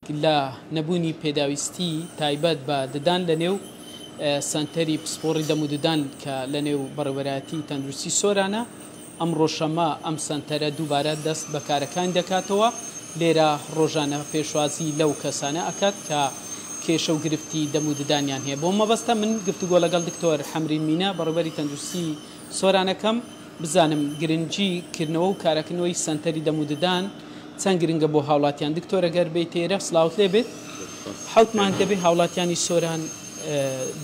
لە نەبوونی پێداویستی تایبەت بە ددان لە نێو سەنتەری پسپۆڕی دەم و ددان کە لە نێو بەڕێوەرایەتی تەندروستی سۆرانە، ئەمڕۆ شەممە ئەم سەنتەرە دووبارە دەست بە کارەکانی دەکاتەوە، لێرە ڕۆژانە پێشوازی لەو کەسانە ئەکات کە کێشە و گرفتی دەم و ددانیان هەیە. بۆ مەبەستە من گفتوگۆ لەگەڵ دکتۆر حەمرین مینە بەڕێوەبەری تەندروستی سۆران ئەکەم. بزانم گرنگی کردنەوە و کارەکنوەی سەنتەری دەم و ددان چەند گرنگە بۆ هاوڵاتیان دکتۆرە گەر بێی تێرە سلاوت لێ بێت حەوت مانگ دەبێ هاوڵاتیانی سۆران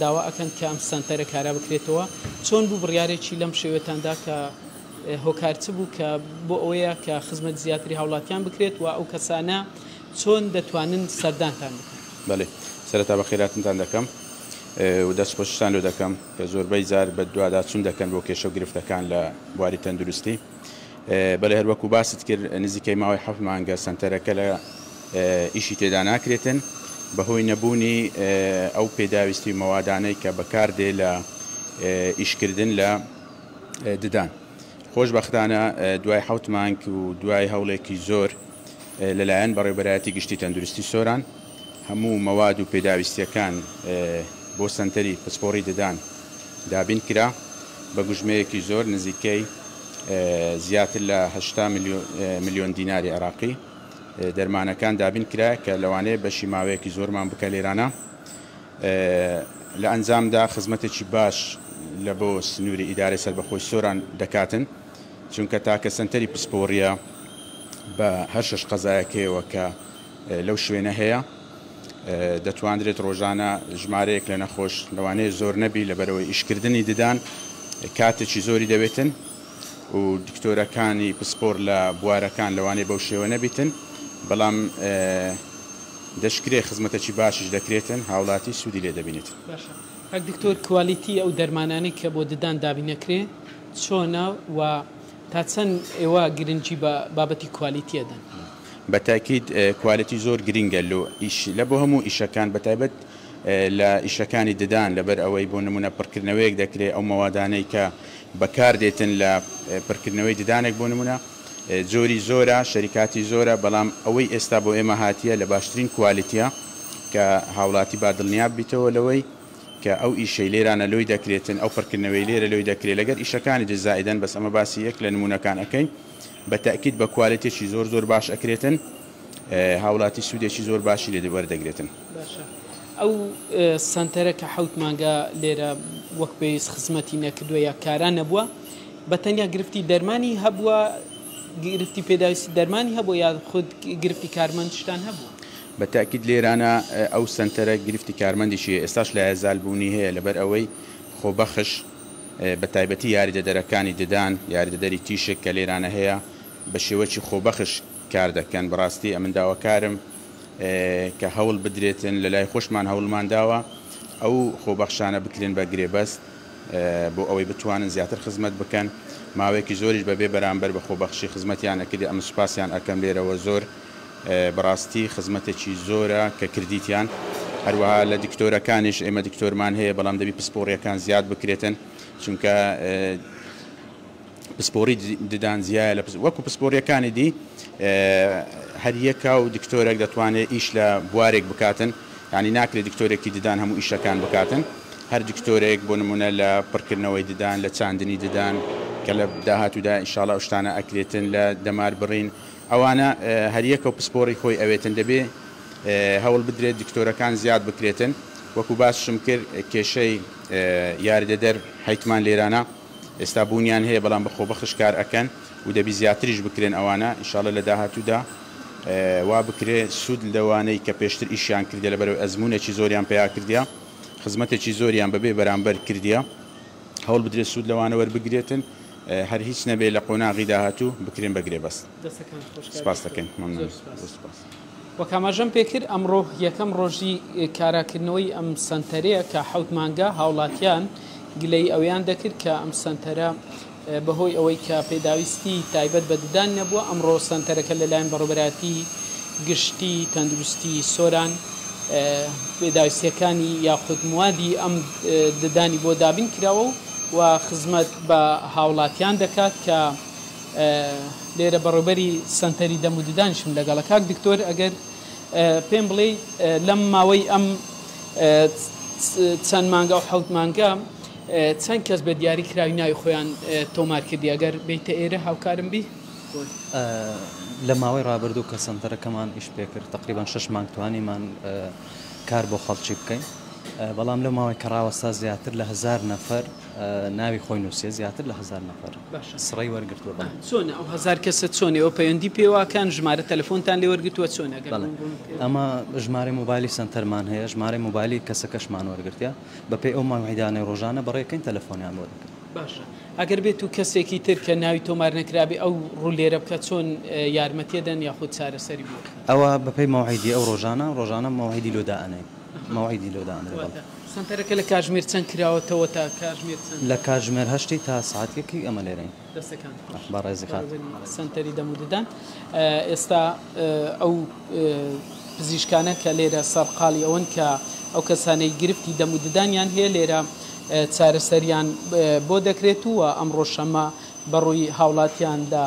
داوا ئەکەن کە ئەم سەنتەرە کارا بکرێتەوە چۆن بوو بڕارێکی لەم شێوێتاندا کە هۆکار چ بوو کە بۆ ئەوەیە کە خزمەت زیاتری هاوڵاتیان بکرێت و ئەو کەسانە چۆن دەتوانن سەردانتان بکەن بەێ سەرتا بە خێراتنتان دەکەم و دەست خۆشتان لۆ دەکەم. کە زۆربەی جار بەدواداچون دەکەن بۆ کێشەو گرفتەکان لە بواری تەندروستی بەلێ هەروەکو باست کرد نزیکەی ماوەی حەفت مانگە سەنتەرەکە لە ئیشی تێدا ناکرێتن بەهۆی نەبونی ئەو پێداویستی مەوادانەی کە بەکاردێ لە ئیشکردن لە ددان خۆشبەختانە دوای حەوت مانگ و دوای هەوڵێکی زۆر لەلایەن بەڕێبەرایەتی گشتی تەندروستی سۆران هەموو مەواد و پێداویستییەکان بۆ سەنتەری پسپۆڕی ددان دابین کرا، بە گوژمەیەکی زۆر نزیکەی زیاتر لە هەشتا ملیۆن دیناری عێراقی دەرمانەکان دابین کرا کە لەوانەیە بەشی ماوەیەکی زۆرمان بکا لێرانە لە ئەنجامدا خزمەتێکی باش لە بۆ سنووری ئیدارەی سەربەخۆی سۆران دەکاتن چونکە تاکە سەنتەری پسپۆڕییە بە هەر شەش قەزایەکەیەوە کە لەو شوێنە هەیە، دەتواندرێت ڕۆژانە ژمارەیەک لە نەخۆش لەوانەیە زۆر نەبی لەبەرئەوەی ئیشکردنی ددان کاتێکی زۆری دەوێتن و دکتۆرەکانی پسپۆر لە بوارەکان لەوانەیە بەو شێوە نەبیتن بەڵام دەشکرێت خزمەتەکی باشیش دەکرێتن هاوڵاتی سودی لێ دەبینیت. باشە کاک دکتۆر کوالیتی ئەو دەرمانانەی کە بۆ ددان دابینەکرێ چۆنە و تا چەند ئێوە گرنگی بە بابەتی کوالیتی ئەدەن؟ بە تاکید کوالێتی زۆر گرینگە لۆ ئیش لە بۆ هەموو ئیشەکان بە تایبەت لە ئیشەکانی ددان لە بەر ئەوەی بۆ نموونە پڕکردنەوەیەک دەکرێ ئەو مەوادانەی کە بە کار دێتن لە پرکردنەوەی ددانێک بۆ نموونە جۆری زۆرە شەریکاتی زۆرە بەڵام ئەوەی ئێستا بۆ ئێمە هاتیە لە باشترین کوالێتیە کە هاوڵاتی با دڵنیاب بیتەوە لەوەی کە ئەو ئیشەی لێرانە لۆی دەکرێتن ئەو پڕکردنەوەی لێرە لۆی دەکرێ لەگەر ئیشەکانی دز زائیدەن بەس ئەمە باسی یەک لە نموونەکان ئەکەین بە تەئکید بە کوالێتێکی زۆر زۆر باش ئەکرێتن هاولاتی سودێکی زۆر باشی لێ وەردەگرێتن. باشە ئەو سەنتەرە کە حەوت مانگە لێرە وەک پێویست خزمەتی نەکردووە یا کارا نەبووە بە تەنیا گرفتی دەرمانی هەبووە گرفتی پێداویستی دەرمانی هەبوو یا خود گرفتی کارمەندشتان هەبوو بە تاکیید لێرانە ئەو سنتەرە گرفتی کارمەندیشی ئێستاش لایەزال بوونی هەیە لەبەر ئەوەی خۆبەخش بە تایبەتی یاریدەدەرەکانی ددان، یاریدەدەری تیشک کە لێرانە هەیە، بە شێوەکی خۆبەخش کار دەکەن، بەڕاستی ئەمن داواکارم کە هەوڵ بدرێتن، لە لای خۆشمان هەوڵمان داوە ئەو خۆبەخشانە بکرێن بە گرێبەست بۆ ئەوەی بتوانن زیاتر خزمەت بکەن، ماوەیەکی زۆریش بە بێ بەرامبەر بە خۆبەخشی خزمەتیان ئەکردێ، ئەمن سوپاسیان ئەکەم لێرەوە زۆر بەڕاستی خزمەتێکی زۆرە کە کردیتیان هەروەها لە دکتۆرەکانیش ئێمە دکتۆرمان هەیە بەڵام دەبی پسپۆڕیەکان زیاد بکرێتن چونکە پسپۆری ددان زیایە لە وەکو پسپۆریەکانی دی هەریەکا و دکتۆرێک دەتوانێت ئیش لە بوارێک بکاتن ینی ناکرێت دکتۆرێکی ددان هەموو ئیشەکان بکاتن هەر دکتۆرێک بۆ نمونە لە پڕکردنەوەی ددان لە چاندنی ددان کە لە داهاتوودا ئیشاڵە شتانە ئەکرێتن لە دەمار بڕین ئەوانە هەریەکەو پسپۆڕی خۆی ئەوێتن دەبێ هەوڵ بدرێت دکتۆرەکان زیاد بکرێتن وەکو باسشم کرد کێشەی یاردەدەر حیتمان لێرانە ئێستا بونیان هەیە بەڵام بە خۆبەخش کار ئەکەن و دەبی زیاتریش بکرێن ئەوانە ئیشاڵە لە داهاتودا وا بکرێ سود لەوانەی کە پێشتر ئیشیان کردیە لەبەرەوەی ئەزمونێکی زۆریان پیا کردیە خزمەتێکی زۆریان بەبێ بەرامبەر کردیە هەوڵ بدرێت سوود لەوانە وەربگرێتن هەر هیچ نەبێت لە قۆناغی داهاتوو بکرێن بە گرێبەست. دەستەکانت خۆش کاک سپاس دکتۆر. دەکەین مەمنون زۆر سپاس. زۆر سپاس. وەک ئاماژەم پێکرد ئەمڕۆ یەکەم ڕۆژی کاراکردنەوەی ئەم سەنتەرەیە کە حەوت مانگە هاوڵاتیان گلەیی ئەوەیان دەکرد کە ئەم سەنتەرە بەهۆی ئەوەی کە پێداویستی تایبەت بە ددان نەبووە ئەمڕۆ سەنتەرەکە لەلایەن بەڕێوەبەرایەتی گشتی تەندروستی سۆران پێداویستیەکانی یاخود موادی ئەم ددانی بۆ دابین کراوە و خزمەت بە هاوڵاتیان دەکات کە لێرە بەڕێوبەری سەنتەری دەم و ددانشم لەگەڵە کاک دکتۆر ئەگەر پێم بڵێ لەم ماوەی ئەم چەند مانگا و حوت مانگە چەند کەس بە دیاری کراوی ناوی خۆیان تۆمار کردی ئەگەر بیتە ئێرە هاوکارم بی لە ماوەی ڕابردوو کە سەنتەرەکەمان ئیش پێکرد تقریبان شش مانگ توانیمان کار بۆ خەڵکی بکەین بەڵام لەو ماوەی کەڕاوەستا زیاتر لە هەزار نەفەر ناوی خۆی نووسێ زیاتر لە هەزار نەفەر سڕی وەرگتووە بە چۆنە ئەو هەزار کەسە چۆنەوە پەیوەندی پێواکەن ژمارە تەلەفۆنتان لێ وەرگتووە چۆنە گەر ئەمە ژمارە موبایلی سەنتەرمان هەیە ژمارە موبایلی کەسەکەشمان وەرگتە بەپی ئەو ماوەیدانەی ڕۆژانە بەڕێکەین تەلەفۆنیان بۆ دەکەن باشە ئەگەر بێت و کەسێکی تر کە ناوی تۆمار نەکرابێ ئەو ڕولێرە بکە چۆن یارمەتیدەن یاخود چارەسەری بۆ. ئەوە بەپێی مەوعیدی ئەو ڕۆژانە ڕۆژانە مەوعیدی لۆ دائەنێین مەوعیدی لۆ دائەنرێ بەڵێ. واتە سەنتەرەکە لە کاژمێر چەند کراوەتەوە تا کاژمێر چەند؟ لە کاژمێر هەشتی تا سەعات یەکی ئێمە لێرەین. دەستەکانت خۆش بەڕێزی خان. بەڕێوبەری سەنتەری دەم و ددان ئێستا ئەو پزیشکانە کە لێرە سەرقاڵی ئەوەن کە ئەو کەسانەی گرفتی دەم و ددانیان هەیە لێرە چارەسەریان بۆ دەکرێت و ئەمڕۆ شەممە بەڕووی هاوڵاتیاندا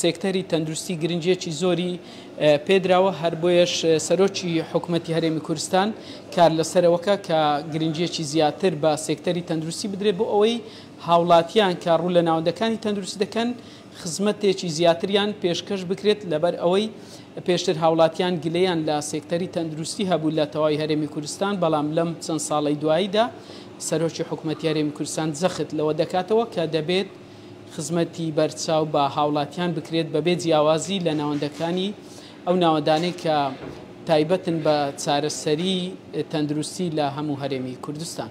سێکتەری تەندروستی گرنگییەکی زۆری پێدراوە، هەر بۆیەش سەرۆکی حکومەتی هەرێمی کورستان کار لەسەرەوەکە کە گرنگییەکی زیاتر بە سێکتەری تەندروستی بدرێت بۆ ئەوەی هاوڵاتیان کە ڕوو لە ناوەندەکانی تەندروستی دەکەن خزمەتێکی زیاتریان پێشکەش بکرێت لەبەرئەوەی پێشتر هاوڵاتیان گلەیان لە سێکتەری تەندروستی هەبوو لە تەواوی هەرێمی کورستان بەڵام لەم چەند ساڵەی دواییدا سەرۆکی حکومەتی هەرێمی کورستان جەخت لەوە دەکاتەوە کە دەبێت خزمەتی بەرچاو بە هاوڵاتیان بکرێت بەبێ جیاوازی لە ناوەندەکانی ئەو ناوەندانەی کە تایبەتن بە چارەسەری تەندروستی لە هەموو هەرێمی کوردستان.